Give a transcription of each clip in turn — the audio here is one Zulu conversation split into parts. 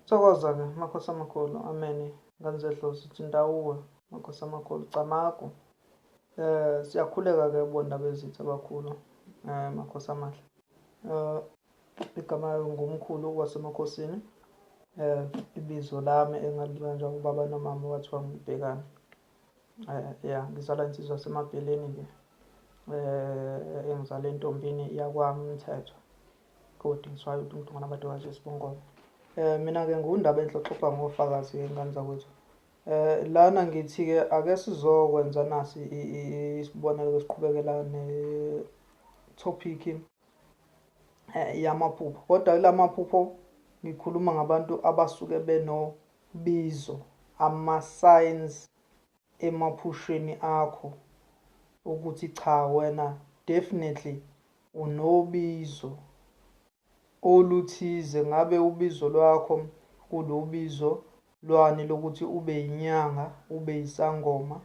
Thokoza ke makhosi amakhulu ameni nganzedlozi uthi ndawuwe makhosi amakhulu camagu eh siyakhuleka ke bonda bezitha abakhulu eh makhosi amahle eh igama ngumkhulu wasemakhosini eh ibizo lami engalibanjwa ubaba nomama wathiwa ngibhekana Eh, ya ngizala insizwa yasemabheleni ke eh engizala entombini yakwami umthetho kodwa ngiswayo ukuthi umuntu ngona badokazi esibongolo eh mina ke ngundaba enhloxoxa ngofakazi ngengane zakwethu eh lana ngithi ke ake sizokwenza nasi isibonelo esiqhubekela ne topic eh yamaphupho kodwa kulamaphupho ngikhuluma ngabantu abasuke beno Bizo, Ama signs emaphusheni akho ukuthi cha wena definitely unobizo oluthize ngabe ubizo lwakho kulubizo lwani lokuthi ube yinyanga ube yisangoma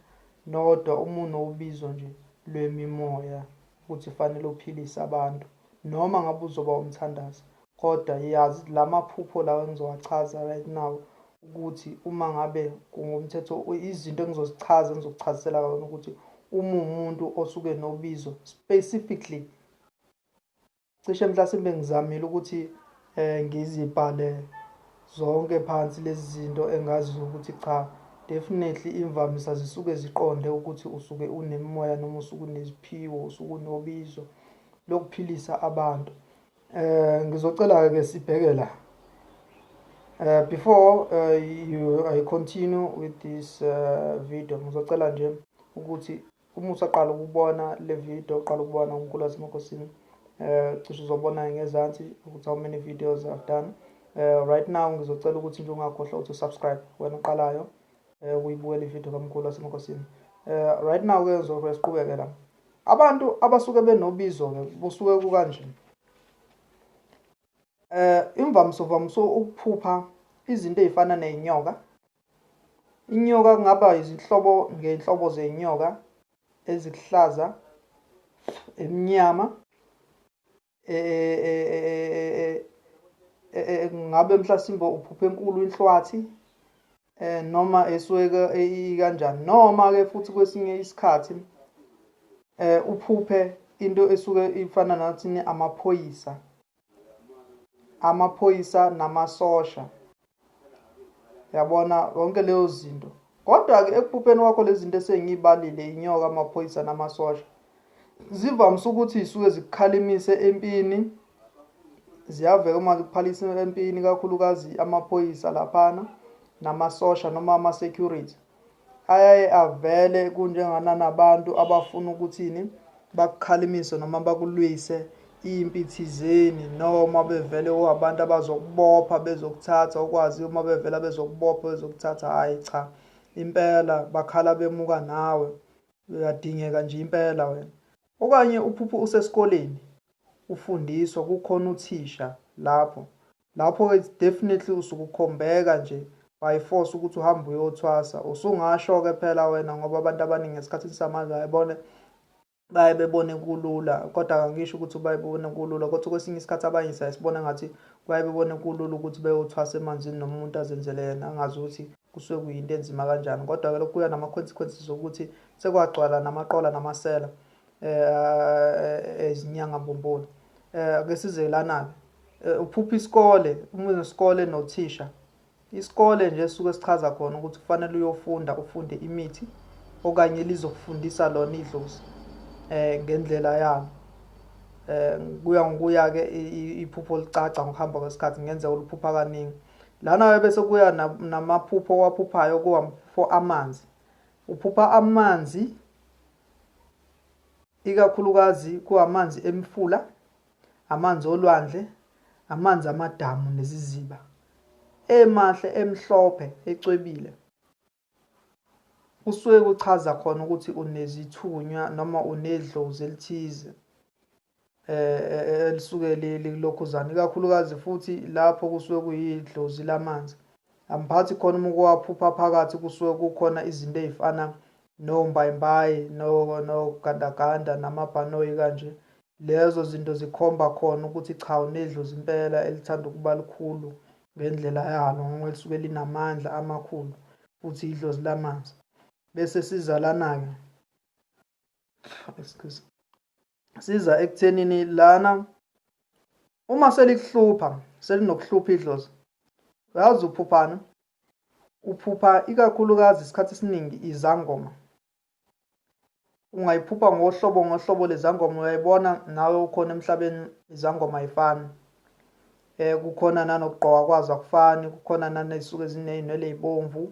nodwa uma unobizo nje lwemimoya ukuthi fanele uphilise abantu noma ngabe uzoba umthandazi Kodwa yaz lamaphupho lawa engizowachaza right now ukuthi uma ngabe kungumthetho izinto engizozichaza engizokuchazisela kona ukuthi uma umuntu osuke nobizo specifically cishe mhlasimbe ngizamile ukuthi eh ngizibhale zonke phansi lezi zinto engaziyo ukuthi cha definitely imvamisa zisuke ziqonde ukuthi usuke unemimoya noma usuke uneziphiwo usuke unobizo lokuphilisa abantu eh ngizocela ke sibheke la Uh, before uh, you, I continue with this uh, video ngizocela nje ukuthi uma usaqala ukubona le video uqala ukubona unkulu wasemakosini eh cishe uzobona ngezansi ukuthi how many videos I've done eh right now ngizocela ukuthi nje ungakhohlwa ukuthi subscribe wena uqalayo eh uyibukele ivideo kamkhulu wasemakosini eh right now ke ngizosiqhubeke la Abantu abasuke benobizo ke busuke kukanje. Eh imvamso vamso ukuphupha izinto ezifana nezinyoka. Inyoka kungaba izinhlobo ngenhlobo zenyoka ezikuhlaza emnyama eh ngabe mhlasimbe uphuphe enkulu inhlwathi eh noma esweka ikanjani noma ke futhi kwesinye isikhathi eh uphuphe into esuke ifana nathi amaphoyisa amaphoyisa namasosha yabona yonke leyo zinto kodwa-ke ekuphupheni kwakho lezi zinto esengiyibalile inyoka amaphoyisa namasosha zivamise ukuthi zisuke zikukhalimise empini ziyaveka uma zikuphalisa empini kakhulukazi amaphoyisa laphana namasosha noma ama-security ayaye avele kunjengananabantu abafuna ukuthini bakukhalimise noma bakulwise impi thizeni noma bevele uabantu abazokubopha bezokuthatha ukwazi uma bevela bezokubopha bezokuthatha hayi cha impela bakhala bemuka nawe uyadingeka nje impela wena okanye uphuphu usesikoleni ufundiswa kukhona uthisha lapho Lapho ke it's definitely usuke ukhombeka nje by force ukuthi uhambe uyothwasa. Usungasho ke phela wena ngoba abantu abaningi esikhathini samanje ayibone baye bebone kulula kodwa kangisho ukuthi baye bebone kulula kodwa kwesinye isikhathi abanye saye sibona ngathi baye bebone kulula ukuthi beyothwasa emanzini noma umuntu azenzele yena angazi ukuthi kusuke kuyinto enzima kanjani kodwa-ke lokhu kuya nama-consequences okuthi sekwagcwala namaqola namasela eh izinyanga eh, mbumbulu eh ake size lana ke eh, uphupha isikole uma unesikole nothisha isikole nje suke sichaza khona ukuthi kufanele uyofunda ufunde imithi okanye lizokufundisa lona idlozi eh ngendlela yalo eh kuya ngokuya ke iphupho licaca ngokuhamba kwesikhathi ngenze oluphupha kaningi lana bese kuya namaphupho waphuphayo kuwa for amanzi uphupha amanzi ikakhulukazi kuwamanzi emifula amanzi olwandle amanzi amadamu neziziba emahle emhlophe ecwebile kusuke kuchaza khona ukuthi unezithunywa noma unedlozi elithize eh, eh, eh elisuke lilokhuzana ikakhulukazi futhi lapho kusuke kuyidlozi lamanzi amphathi khona uma kuwaphupha phakathi kusuke kukhona izinto ezifana nombayimbayi nogandaganda namabhanoyi kanje lezo zinto zikhomba khona ukuthi cha unedlozi impela elithanda ukuba likhulu ngendlela yalo ngoba lisuke linamandla amakhulu futhi idlozi lamanzi bese sizalana-ke excuse siza ekuthenini lana uma selikuhlupha selinokuhlupha idlozi uyazi uphuphana uphupha ikakhulukazi isikhathi esiningi izangoma ungayiphupha ngohlobo ngohlobo lezangoma uyayibona nawe ukhona emhlabeni izangoma ayifani eh kukhona nanokugqoka kwazo akufani kukhona nanezisuke zineyinwele ezibomvu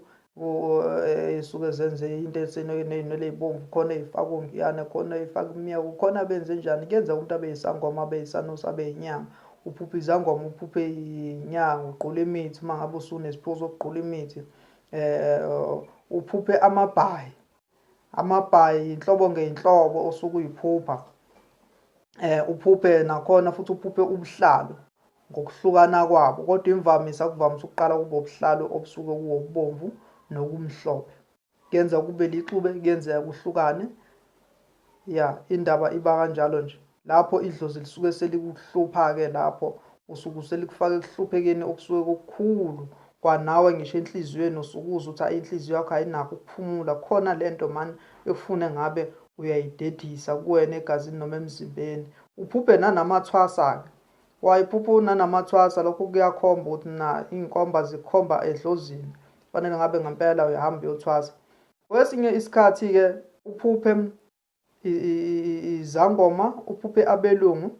isuke eh, zenze into eseneyinwele ezibomvu khona ezifaka ongiyane khona ezifaka imiya kukhona benze njani kuyenzeka umuntu abe yisangoma abe yisanusi abe yinyanga uphuphe izangoma uphuphe inyanga ugqula imithi uma ngabe usunesiphiwo sokugqula imithi um uphuphe amabhayi amabhayi yinhlobo ngeyinhlobo osuke uyiphupha eh uphuphe nakhona futhi uphuphe ubuhlalu ngokuhlukana kwabo kodwa imvamisa kuvamise ukuqala kube ubuhlalu obusuke kuwobubomvu nokumhlophe kuyenzeka kube lixube kuyenzeka kuhlukane Ya indaba iba kanjalo nje. Lapho idlozi lisuke selikuhlupha-ke lapho usuke selikufaka ekuhluphekeni okusuke kukhulu kwanawe ngisho enhliziyweni usukuza uthi ayi inhliziyo yakho ayinakho ukuphumula khona lento mani ekufune ngabe uyayidedisa kuwena egazini noma emzimbeni uphuphe nanamathwasa-ke wayiphupha unanamathwasa lokho kuyakhomba ukuthi na iy'nkomba zikhomba edlozini kufanele ngabe ngempela uyahamba uyothwasa Kwesinye isikhathi-ke uphuphe izangoma, uphuphe abelungu,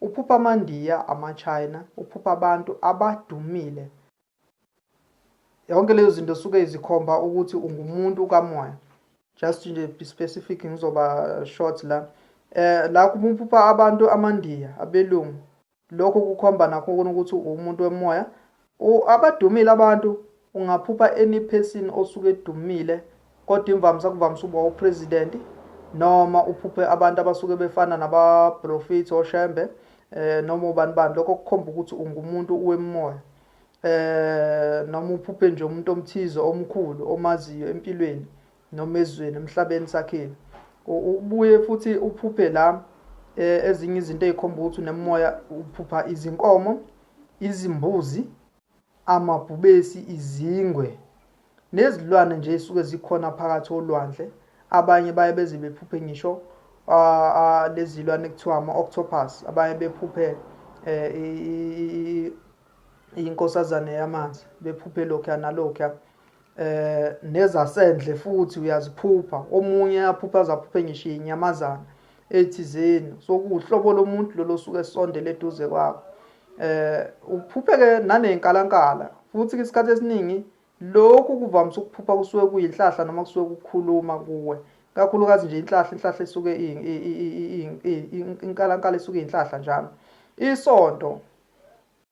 uphuphe amaNdiya, amaChina, uphuphe abantu abadumile. Yonke leyo zinto suke izikhomba ukuthi ungumuntu kamoya. Just nje be specific ngizoba short la. Eh la kuphupha abantu amaNdiya, abelungu, lokhu kukhomba nakho kona ukuthi uwumuntu wemoya abadumile abantu ungaphupha any person osuke edumile kodwa imvamisa kuvamise ukuba upresident noma uphuphe abantu abasuke befana nabaprofethi oshembe eh noma ubani bani lokho kukhomba ukuthi ungumuntu wemoya eh noma uphuphe nje umuntu omthize omkhulu omaziyo empilweni noma ezweni emhlabeni sakhile ubuye futhi uphuphe la e, ezinye izinto ezikhomba ukuthi unemoya uphupha izinkomo izimbuzi amabhubesi izingwe nezilwane nje esuke zikhona phakathi olwandle abanye baye beze bephuphe ngisho lezilwane kuthiwa ama-octopus abanye bephuphe eh, inkosazane yamanzi bephuphe lokhuya nalokhuya eh nezasendle futhi uyaziphupha omunye aphupha azaphuphe ngisho inyamazana ethizeni sokuhlobo lomuntu lolo suke sondele eduze kwakho eh uphuphe ke nanenkalankala futhi isikhathi esiningi lokhu kuvamise ukuphupha kusuke kuyinhlahla noma kusuke kukhuluma kuwe kakhulukazi nje inhlahla inhlahla esuke inkalankala esuke inhlahla njalo isonto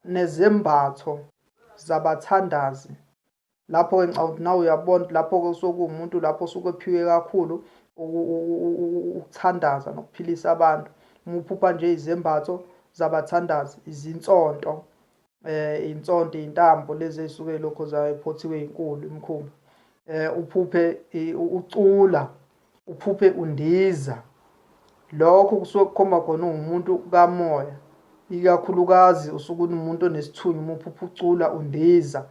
nezembatho zabathandazi. Lapho-ke ngicabanga ukuthi nawe uyabona ukuthi lapho-ke kusuke kuwumuntu lapho osuke ephiwe kakhulu ukuthandaza nokuphilisa abantu uma uphupha nje izembatho zabathandazi izinsonto eh insonto intambo lezi ezisuke lokho zaphothiwe inkulu imkhumba eh uphuphe ucula uphuphe undiza lokho kusuke kukhomba khona ungumuntu kamoya ikakhulukazi usuke umuntu onesithunywa uma uphupha ucula undiza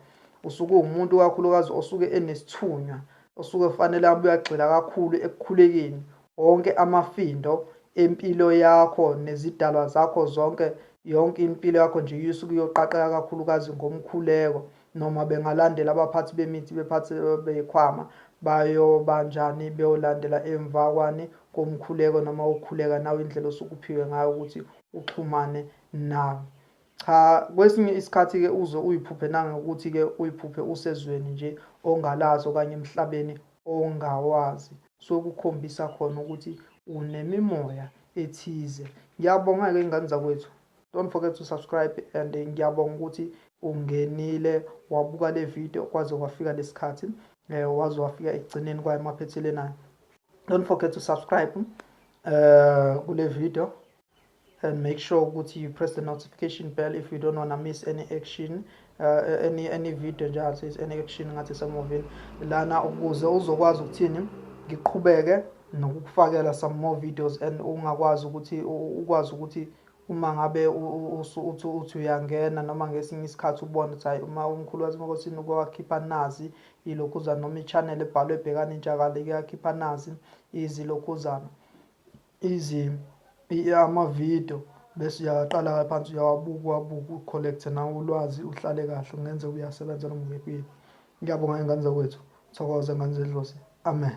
usuke uwumuntu kakhulukazi osuke enesithunywa osuke kufanele abe uyagxila kakhulu ekukhulekeni wonke amafindo empilo yakho nezidalwa zakho zonke yonke impilo yakho nje isuke iyoqaqeka kakhulukazi ngomkhuleko Noma bengalandela abaphathi bemithi bephathi bekhwama bayobanjani beyolandela emva kwani komkhuleko noma ukukhuleka nawe indlela osukuphiwe ngayo ukuthi uxhumane nawe. Cha kwesinye isikhathi ke uze uyiphuphe nangokuthi ke uyiphuphe usezweni nje ongalazi okanye emhlabeni ongawazi so kukhombisa khona ukuthi unemimoya ethize. Ngiyabonga ke ingane zakwethu. Don't forget to subscribe and ngiyabonga ukuthi ungenile wabuka le video kwaze kwafika lesikhathi eh waze wafika ekugcineni kwaye maphethelena don't forget to subscribe uh kule video and make sure ukuthi you press the notification bell if you don't want to miss any action uh, any any video nje athi any action ngathi semovini lana ukuze uzokwazi ukuthini ngiqhubeke nokukufakela some more videos and ungakwazi ukuthi ukwazi ukuthi Uma ngabe usu uthi uthi uyangena noma ngesinye isikhathi ubone ukuthi hayi uma umkhulu wasemakosini uke wakhipha nazi ilokhuzana noma i-channel ebhalwe ebhekana intsha ike yakhipha nazi izilokhuzana izi amavidiyo bese uyaqala phansi uyawabuka uwabuke ucollect nawo ulwazi uhlale kahle kungenze uyasebenza noma uyekwini ngiyabonga ingane zakwethu thokoza ngane zedlozi amen